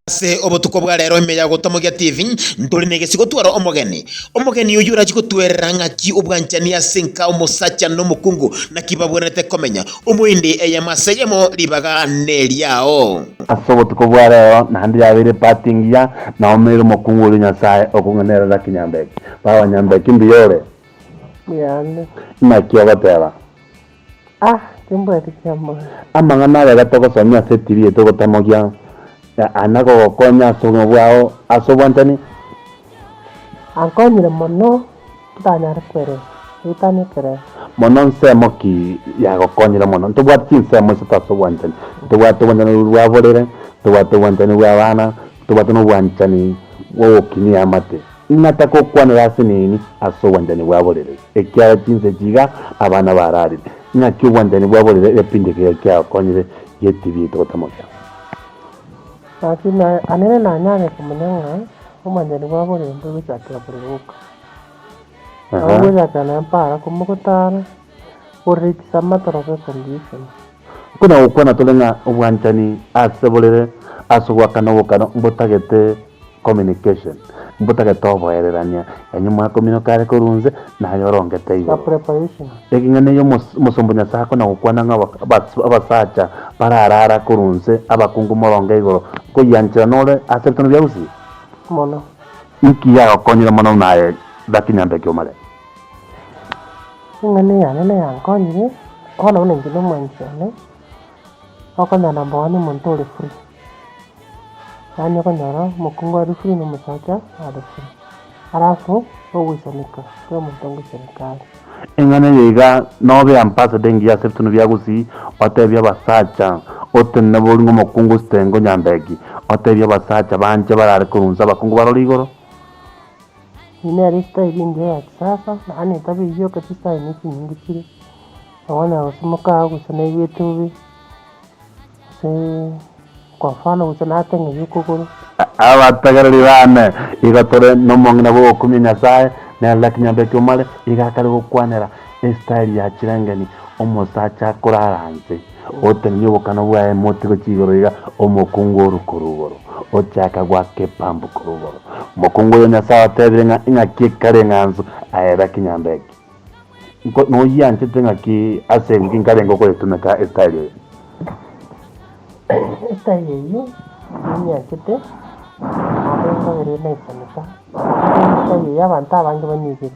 Ase obotuko bwa rero ime ya gotamogia TV, ntore negesi gotwara omogeni. Omogeni oyio orachi gotwerera ng'aki obwanchani ase nka omosacha na omokungu naki babwenerete komenya. Omoendi eyemo ase eyemo ribaga neriao. Ase obotuko bwa rero naende yabeire part engiya na omeire omokungu oria Nyasae okong'enerera Kinyambeki. Baba Nyambeki mbuya ore? Mbuya ande. Inaki ogoteba? Amang'ana aya gatogosomia ase TV yaito gotamogia aya nagogokonya ase obogima bwao ase obwanchani. Ankonyire mono ntanyare koelesa. Ritania ekerecha. Mono nsemo ki yagokonyire mono? Ntobwate chinsemo isato ase obwanchani. Ntobwate obwanchani bwa borere, ntobwate obwanchani bwa abana, ntobwate na obwanchani bwa ogokinia amate. Ng'a takokwanera ase nini ase obwanchani bwa borere, ekiagera chinse chiga abana bararire. Ng'aki obwanchani bwa borere egepindia keria kiagokonyire getibiete gotamokia. Naki naenire nanyare komanya ng'a obwanchani bwa borere mboigochakera borere boka, na boigochakera na empaara komogotaara. Buna gokwana tore ng'a obwanchani ase borere ase ogoakana obokano mbotagete communication, mbotagete oboererania, yaani mwakominoka are korwa inse naye orongete igoro. Ekeng'ana eyo omosomba o Nyasae akona gokwana ng'a abasacha bararara korwa inse abakungu moronge igoro nkoyianchera nore ase ebitano bia usi. Inki yagokonyire mono buna aye Zaki Nyambeki o Male? Eng'ana eyane neyankonyire, bono buna inche nomwanchi one, okonyora number one omonto ore free. Yaani okonyora omokungu are free na omosacha are free. Alafu ogoisanika kera omonto ngoisanika are. Eng'ana eye iga nobe ambassador engiya ase ebitunu bia gusii, otebie abasacha otenene nabo ori ng'omokungu ositenge onyambeki, otebie abasacha banche barare korunsa abakungu baroro igoro. Eye nere esitaili engiya ya kisasa, nabo netabe eyio okete esitaili ne chinyinge chire, nabo onyala gosimeka aye gocha naigwete bobe, gose kwa mfano gocha nateng'eria okogoro. Abategereri baane, igo tore nomong'ina bw'ogokumia Nyasae, na Eldak nyomba ya Kiumare iga akare gokwanera esitaili ya chireng'eni omosacha korara inse. Otenenie obokana bwaye motigo chigoro iga, omokungu orue korwa igoro, ochake goaka epambu korwa igoro. Mokungu oyio Nyasae otebire ng'a ing'aki ekare eng'anso aeba ekenyanda eke. Nko noyianchete ing'aki ase eng'uki nkarenge okoyetumeka esitari eye? Esitari eyio ninyianchete, nabo enkobereire naisaneka, ase eng'encho esitari eyio abanto abange banyigire.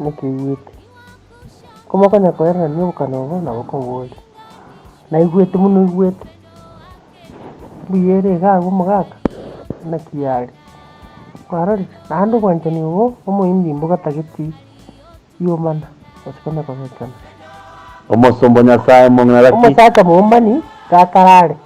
Nkeiguete. Komokonya koererania obokana obo nabo koboria. Naiguete buna oiguete. Mbuya ere iga agwo omogaka? Naki are? Kwarorire? Naende obwanchani obo omoimbi mbogotageti riomana gose konya kogechana. Omosomba o Nyasae mong'ina gaki. Omosacha momani gakarare.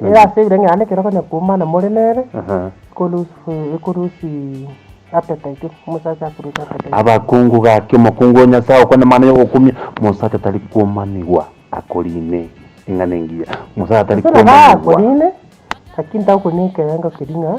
Nigo ase ebirengererio ekero konya koumana more nere, Aha. ekolose eh, ekolose appetite, omosacha akolose appetite. Abakungu gaki omokungu o Nyasae okwane mana ya ogokumia, omosacha tari komanigwa akorine eng'ana engiya, omosacha tari Gose nabo komanigwa. akorine, lakini tagokwania ekerengo keria ng'a.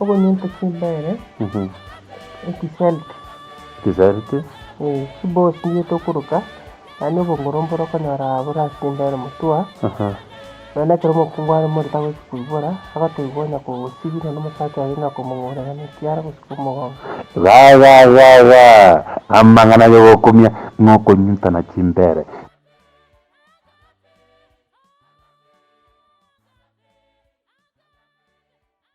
Okonyuta chimbere echiselti. Echiselti. Ee, chibosi nigo tokoruka, yaani obongoro mbore okonyora borase chimbere motwa, nonya ekero omokungu are more tagochia koibora, agateba onya kosibi nonya omosacha aye onya komong'urera na ekiara gose komogonga. Gagagaga! Amang'ana yogokumia ng'okonyutana chimbere.